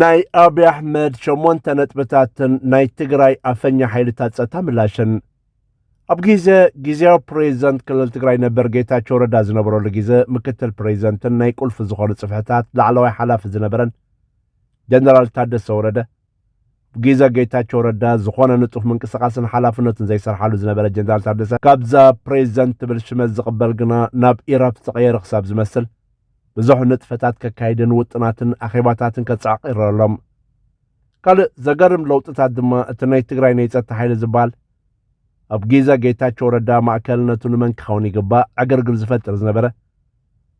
ናይ ኣብይ ኣሕመድ ሸሞንተ ነጥብታትን ናይ ትግራይ ኣፈኛ ሓይልታት ፀጥታ ምላሽን ኣብ ግዜ ግዜያዊ ፕሬዚደንት ክልል ትግራይ ነበር ጌታቸው ረዳ ዝነበረሉ ግዜ ምክትል ፕሬዚደንትን ናይ ቁልፊ ዝኾኑ ፅፍሕታት ላዕለዋይ ሓላፊ ዝነበረን ጀነራል ታደሰ ወረደ ግዘ ጌታቸው ረዳ ዝኾነ ንጡፍ ምንቅስቃስን ሓላፍነትን ዘይሰርሓሉ ዝነበረ ጀነራል ታደሰ ካብዛ ፕሬዚደንት ትብል ሽመት ዝቕበል ግና ናብ ኢራብ ዝተቐየረ ክሳብ ዝመስል ብዙሕ ንጥፈታት ከካይድን ውጥናትን ኣኼባታትን ከጻዕቕ ይረኣሎም ካልእ ዘገርም ለውጥታት ድማ እቲ ናይ ትግራይ ናይ ጸጥታ ሓይሊ ዝበሃል ኣብ ጊዘ ጌታቸው ረዳ ማእከልነቱ ንመን ክኸውን ይግባእ ዕግርግር ዝፈጥር ዝነበረ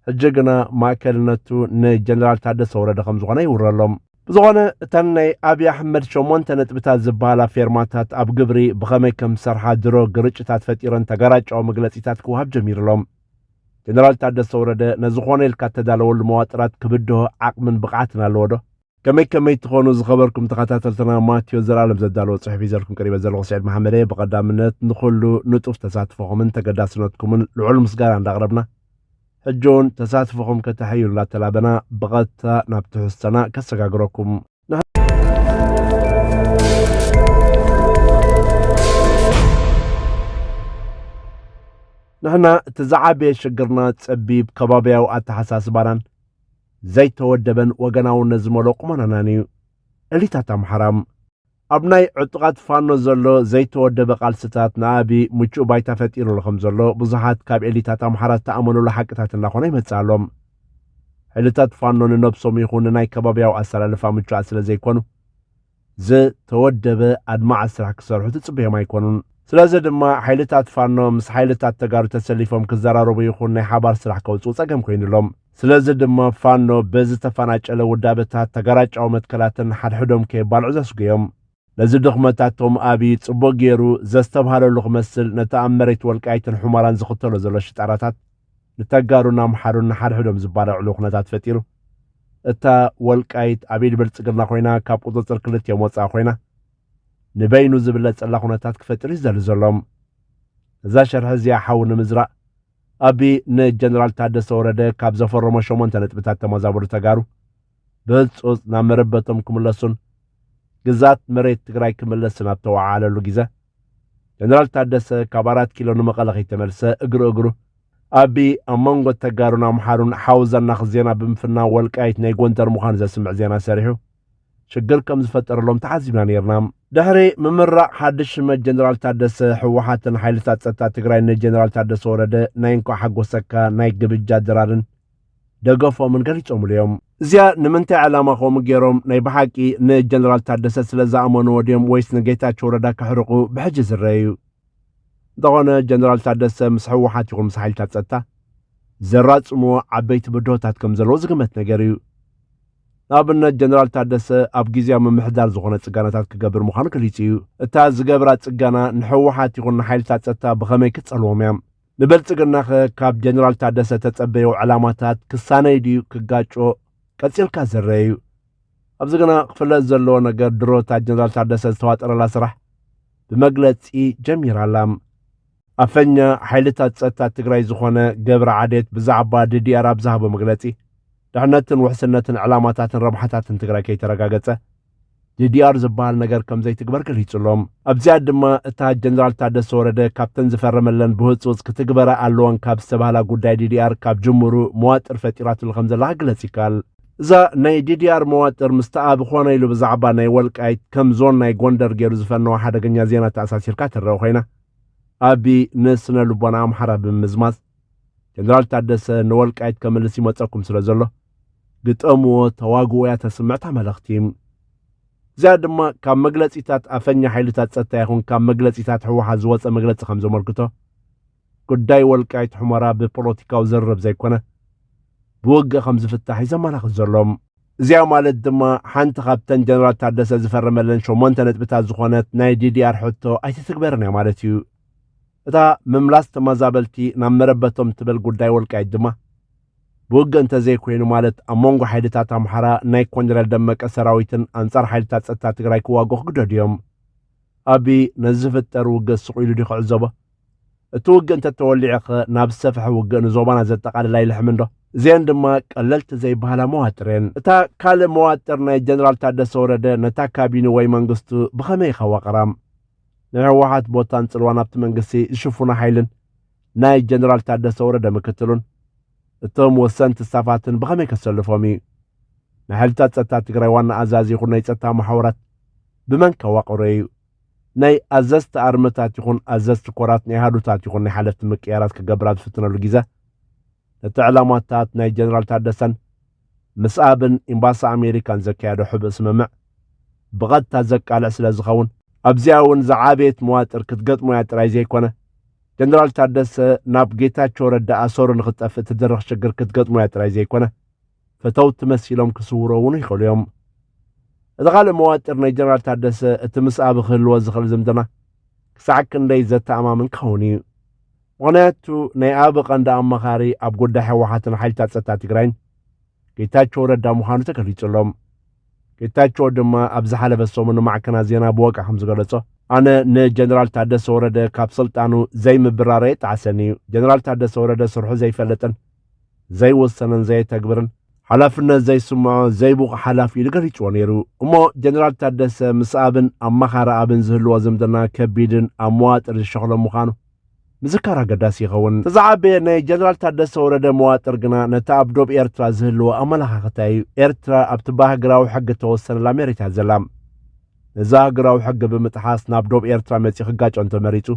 ሕጂ ግና ማእከልነቱ ንጀነራል ታደሰ ወረደ ከም ዝኾነ ይውረሎም ብዝኾነ እተን ናይ ኣብዪ ኣሕመድ ሸሞንተ ነጥብታት ዝበሃላ ፌርማታት ኣብ ግብሪ ብኸመይ ከም ዝሰርሓ ድሮ ግርጭታት ፈጢረን ተገራጫዊ መግለፂታት ክወሃብ ጀሚሩሎም ጀነራል ታደሰ ወረደ ነዚ ኮነ ኢልካ እተዳለወሉ መዋጥራት ክብድሆ ዓቕምን ብቕዓትን ኣለዎ ዶ? ከመይ ከመይ ትኾኑ ዝኸበርኩም ተኸታተልትና ማቴዎስ ዘርኣለም ዘዳለዎ ጽሑፍ ሒዘልኩም ቀሪበ ዘለኹ ስዒድ መሓመድ እየ ብቐዳምነት ንኹሉ ንጡፍ ተሳትፎኹምን ተገዳስነትኩምን ልዑል ምስጋና እንዳቕረብና ሕጂ እውን ተሳትፎኹም ከተሐዩ እንዳተላበና ብቐጥታ ናብ ትሕዝቶና ከሰጋግረኩም ንሕና እቲ ዝዓበየ ሽግርና ጸቢብ ከባብያዊ ኣተሓሳስባናን ዘይተወደበን ወገናውነት ዝመልኦ ቁመናናን እዩ እሊታት ኣምሓራ ኣብ ናይ ዕጡቓት ፋኖ ዘሎ ዘይተወደበ ቃልስታት ንኣብዪ ምቹእ ባይታ ፈጢሩሉ ከም ዘሎ ብዙሓት ካብ ኤሊታት ኣምሓራ ዝተኣመኑሉ ሓቅታት እናኾነ ይመጽእ ኣሎ ሕልታት ፋኖ ንነብሶም ይኹን ንናይ ከባቢያዊ ኣሰላልፋ ምቹኣት ስለ ዘይኮኑ ዝተወደበ ኣድማዒ ስራሕ ክሰርሑ ትጽበዮም ኣይኮኑን። ስለዚ ድማ ሓይልታት ፋኖ ምስ ሓይልታት ተጋሩ ተሰሊፎም ክዘራረቡ ይኹን ናይ ሓባር ስራሕ ከውጽኡ ጸገም ኮይኑ ኣሎ። ስለዚ ድማ ፋኖ በዚ ዝተፈናጨለ ውዳበታት፣ ተጋራጫዊ መትከላትን ሓድሕዶም ከየባልዑ ዘስጉዮም ነዚ ድኽመታት ቶም ኣብይ ጽቡቕ ገይሩ ዘስተብሃለሉ ክመስል ነቲ ኣብ መሬት ወልቃይትን ሑመራን ዝኽተሎ ዘሎ ሽጣራታት ንተጋሩን ኣምሓሩን ንሓድሕዶም ዝባላዕሉ ኩነታት ፈጢሩ እታ ወልቃይት ኣብ ኢድ ብልጽግና ኮይና ካብ ቁጽጽር ክልቲኦም ወጻኢ ኮይና ንበይኑ ዝብለጸላ ኩነታት ክፈጥር እዩ ዝደሊ ዘሎም እዛ ሸርሒ እዚኣ ሓዊ ንምዝራእ ኣቢ ንጀነራል ታደሰ ወረደ ካብ ዘፈረሞ ሸሞንተ ነጥብታት ተመዛበሉ ተጋሩ ብህፁፅ ናብ መረበቶም ክምለሱን ግዛት መሬት ትግራይ ክምለስን ኣብ ተወዓዓለሉ ግዘ ጀነራል ታደሰ ካብ ኣራት ኪሎ ንመቐለ ከይተመልሰ እግሪ እግሩ ኣቢ ኣብ መንጎ ተጋሩን ኣምሓሩን ሓውዘናኽ ዜና ብምፍናው ወልቃይት ናይ ጎንደር ምዃኑ ዘስምዕ ዜና ሰሪሑ ሽግር ከም ዝፈጠረሎም ተዓዚብና ነይርና። ድሕሪ ምምራቕ ሓድሽ ሽመት ጀነራል ታደሰ፣ ህወሓትን ሓይልታት ጸጥታ ትግራይን ንጀነራል ታደሰ ወረደ ናይ እንኳዕ ሓጎሰካ ናይ ግብጃ ድራርን ደገፎምን ገሊጾምሉ እዮም። እዚኣ ንምንታይ ዕላማ ከምኡ ገይሮም፣ ናይ ብሓቂ ንጀነራል ታደሰ ስለ ዝኣመንዎ ድዮም ወይስ ንጌታቸው ረዳ ከሕርቑ ብሕጂ ዝረአ እዩ። እንተኾነ ጀነራል ታደሰ ምስ ህወሓት ይኹን ምስ ሓይልታት ጸጥታ ዘራጽምዎ ዓበይቲ ብድሆታት ከም ዘለዎ ዝግመት ነገር እዩ። ንኣብነት ጀነራል ታደሰ ኣብ ግዝያዊ ምምሕዳር ዝኾነ ጽጋናታት ክገብር ምዃኑ ገሊጹ እዩ። እታ ዝገብራ ጽጋና ንሕወሓት ይኹን ንሓይልታት ጸጥታ ብኸመይ ክትጸልዎም እያ? ንብልጽግናኸ ካብ ጀነራል ታደሰ ተጸበዮ ዕላማታት ክሳነይ ድዩ ክጋጮ? ቀጺልካ ዝርኣ እዩ። ኣብዚ ግና ክፍለጥ ዘለዎ ነገር ድሮ እታ ጀነራል ታደሰ ዝተዋጠረላ ስራሕ ብመግለጺ ጀሚራ ኣላ። ኣፈኛ ሓይልታት ጸጥታ ትግራይ ዝኾነ ገብረ ዓዴት ብዛዕባ ዲዲኣር ኣብ ዝሃቦ መግለጺ ድሕነትን ውሕስነትን ዕላማታትን ረብሓታትን ትግራይ ከይተረጋገጸ ዲዲኣር ዝበሃል ነገር ከም ዘይትግበር ገሊጹ ኣሎ። ኣብዚኣ ድማ እታ ጀነራል ታደሰ ወረደ ካብተን ዝፈረመለን ብህጹጽ ክትግበራ ኣለወን ካብ ዝተባህላ ጉዳይ ዲዲኣር ካብ ጅምሩ መዋጥር ፈጢራትሉ ከም ዘላ ክግለጽ ይከኣል። እዛ ናይ ዲዲኣር መዋጥር ምስቲ ኣብ ኾነ ኢሉ ብዛዕባ ናይ ወልቃይት ከም ዞን ናይ ጎንደር ገይሩ ዝፈነወ ሓደገኛ ዜና ተኣሳሲርካ ትረኣ ኮይና ኣቢ ን ስነ ልቦና ኣምሓራ ብምምዝማዝ ጀነራል ታደሰ ን ወልቃይት ከምልስ ይመጸኩም ስለ ዘሎ ግጠምዎ ተዋግኡ እያ ተስምዕ እታ መልእኽቲ። እዚኣ ድማ ካብ መግለጺታት ኣፈኛ ሓይልታት ጸጥታ ይኹን ካብ መግለጺታት ህወሓት ዝወጸ መግለጺ ከም ዘመልክቶ ጉዳይ ወልቃይት ሑመራ ብፖለቲካዊ ዝርርብ ዘይኮነ ብውግእ ከም ዝፍታሕ እዩ ዘመላኽት ዘሎ። እዚኣ ማለት ድማ ሓንቲ ካብተን ጀነራል ታደሰ ዝፈረመለን ሸሞንተ ነጥብታት ዝኾነት ናይ ዲዲኣር ሕቶ ኣይትትግበርን እያ ማለት እዩ። እታ ምምላስ ተመዛበልቲ ናብ መረበቶም ትብል ጉዳይ ወልቃይት ድማ ብውግእ እንተዘይኮይኑ ማለት ኣብ መንጎ ሓይልታት ኣምሓራ ናይ ኮንደረል ደመቀ ሰራዊትን ኣንጻር ሓይልታት ጸጥታ ትግራይ ክዋግኡ ክግደዱ እዮም። ኣቢ ነዚ ዝፍጠር ውግእ ስቑኢሉ ድዩ ክዕዘቦ? እቲ ውግእ እንተተወሊዑኸ ናብ ዝሰፈሐ ውግእ ንዞባና ዘጠቓልል ኣይልሕምንዶ? እዚኤን ድማ ቀለልቲ ዘይበሃላ መዋጥርየን። እታ ካልእ መዋጥር ናይ ጀነራል ታደሰ ወረደ ነታ ካቢኒ ወይ መንግስቱ ብኸመይ ይኸዋቕራ? ናይ ህወሓት ቦታን ፅልዋን ኣብቲ መንግስቲ ዝሽፉና ሓይልን ናይ ጀነራል ታደሰ ወረደ ምክትሉን እቶም ወሰንቲ ስታፋትን ብኸመይ ከሰልፎም እዩ? ናይ ሓይልታት ፀጥታ ትግራይ ዋና ኣዛዚ ይኹን ናይ ፀጥታ መሓውራት ብመን ከዋቕሮ እዩ? ናይ ኣዘዝቲ ኣርምታት ይኹን ኣዘዝቲ ኮራት ናይ ኣሃዱታት ይኹን ናይ ሓለፍቲ ምቅያራት ክገብር ኣብ ዝፍትነሉ ጊዘ ነቲ ዕላማታት ናይ ጀነራል ታደሰን ምስ ኣብን ኢምባሲ ኣሜሪካን ዘካየዶ ሕብእ ስምምዕ ብቐጥታ ዘቃልዕ ስለ ዝኸውን ኣብዚኣ እውን ዝዓበየት መዋጥር ክትገጥሞ እያ ጥራይ ዘይኮነ ጀነራል ታደሰ ናብ ጌታቸው ረዳ ኣሰሩ ንክትጠፍእ ትድርኽ ሽግር ክትገጥሞ እያ ጥራይ ዘይኮነ ፈተውቲ መሲሎም ክስውሮ እውን ይኽእሉ እዮም። እቲ ካልእ መዋጥር ናይ ጀነራል ታደሰ እቲ ምስ ኣቢ ክህልዎ ዝኽእል ዝምድና ክሳዕ ክንደይ ዘተኣማምን ክኸውን እዩ። ምኽንያቱ ናይ ኣቢ ቀንዲ ኣማኻሪ ኣብ ጉዳይ ህወሓትን ሓይልታት ጸጥታ ትግራይን ጌታቸው ረዳ ምዃኑ ተገሊጹ ኣሎ። ጌታቸው ድማ ኣብ ዝሓለፈ ሰሙን ንማዕከናት ዜና ብወግዒ ከም ዝገለጾ ኣነ ንጀነራል ታደሰ ወረደ ካብ ስልጣኑ ዘይምብራረይ ጣዕሰኒ እዩ ጀነራል ታደሰ ወረደ ስርሑ ዘይፈልጥን ዘይወሰነን ዘየተግብርን፣ ሓላፍነት ዘይስምዖ ዘይብቑዕ ሓላፊ ኢሉ ገሊጽዎ ነይሩ። እሞ ጀነራል ታደሰ ምስ ኣብን ኣማኻሪ ኣብን ዝህልዎ ዝምድና ከቢድን ኣብ መዋጥር ዝሸኽሎ ምዃኑ ምዝካር ኣገዳሲ ይኸውን። እቲ ዝዓበየ ናይ ጀነራል ታደሰ ወረደ መዋጥር ግና ነቲ ኣብ ዶብ ኤርትራ ዝህልዎ ኣመለኻኽታ እዩ። ኤርትራ ኣብቲ ብኣህግራዊ ሕጊ እተወሰነላ መሬት እያ ዘላ። ነዚ ኣህግራዊ ሕጊ ብምጥሓስ ናብ ዶብ ኤርትራ መጺኡ ክጋጮ እንተመሪጹ፣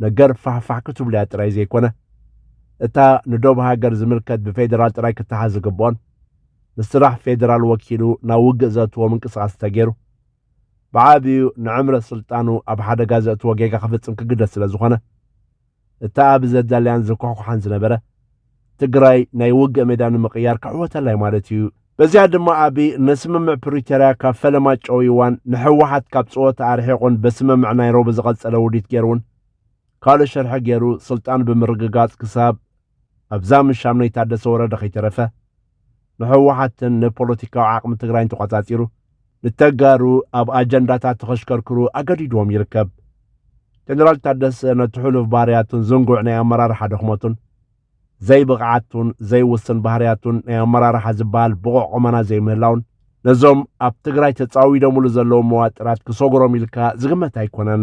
ነገር ፋሕፋሕ ክትብሉያ ጥራይ ዘይኮነ እታ ንዶብ ሃገር ዝምልከት ብፌደራል ጥራይ ክተሓዝ ዝግብኦን ንስራሕ ፌደራል ወኪሉ ናብ ውግእ ዘእትዎ ምንቅስቓስ እንተገይሩ ብዓብዩ ንዕምረት ስልጣኑ ኣብ ሓደጋ ዘእትዎ ጌጋ ክፍጽም ክግደድ ስለ ዝኾነ እታ ኣብ ዘዳልያን ዝኩሕኩሓን ዝነበረ ትግራይ ናይ ውግእ ሜዳ ንምቕያር ክሕወተላይ ማለት እዩ። በዚኣ ድማ ኣብይ ንስምምዕ ፕሪቶርያ ካብ ፈለማ ጨውይዋን ንሕወሓት ካብ ፀወታ ኣርሒቑን በስምምዕ ናይሮቢ ዝቐፀለ ውዲት ገይሩውን ካልእ ሽርሒ ገይሩ ስልጣኑ ብምርግጋፅ ክሳብ ኣብዛ ምሻም ናይ ታደሰ ወረደ ከይተረፈ ንህወሓትን ንፖለቲካዊ ዓቕሚ ትግራይን ተቖፃፂሩ ንተጋሩ ኣብ ኣጀንዳታት ተኸሽከርክሩ ኣገዲድዎም ይርከብ። ጀነራል ታደሰ ነቲ ሕሉፍ ባህርያቱን ዝንጉዕ ናይ ኣመራርሓ ድኽመቱን ዘይብቕዓቱን ዘይውስን ባህርያቱን ናይ ኣመራርሓ ዝበሃል ብቑዕ ቁመና ዘይምህላውን ነዞም ኣብ ትግራይ ተፃዊዶምሉ ዘለዉ መዋጥራት ክሰጉሮም ኢልካ ዝግመት ኣይኮነን።